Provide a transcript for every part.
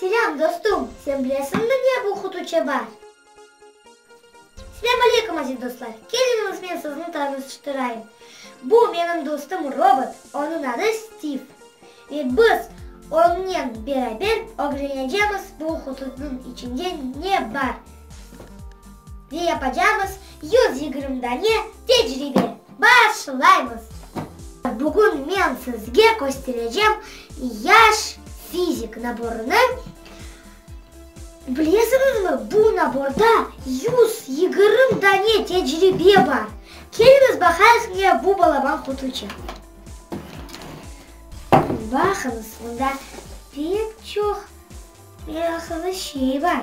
Selâm dostum, sen bilesiñmi ne bu Hutuçe bar? Selâm aleykum aziz dostlar, keliñiz men sizni tanıştırayım. Bu menim dostum robot, onıñ adı Stiv. Ve biz onnen beraber ögrenecemiz bu Hututnıñ içinde ne bar. Ne yapacamız? Yüz yigirmi dane tecribe. Başlaymız! Bugün men sizge kösterecem yaş fizik naborını. Bilesiñizmi, bu naborda yüz yigirmi dane tecribe bar. Keliñiz, baqayıq, ne bu balaban qutuçı. Baqıñız, onda pek çoq meraqlı şey bar.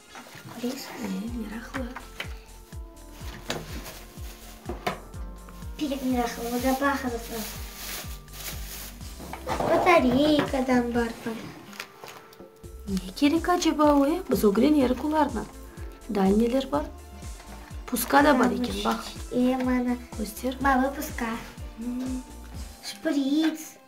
Biz de meraqlı. Pek meraqlı, o da baqınız. Batareykadan bar bul. Ne kerek aceba o, e? Biz ögren erik olarnı. Dal neler bar? Puska da bar eken, baq. Em, ana. Köster. Balı puska. Şpric.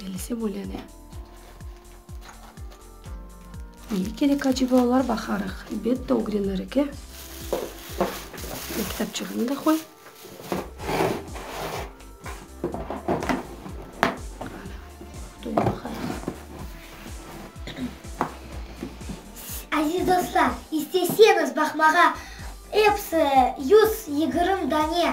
Bilse bölene. Nege kerek aceba olar? Baqarıq. Elbette ögrenir eke. Kitapçığını da qoy. Aziz dostlar, isteseñiz baqmağa, episi yüz yigirmi dane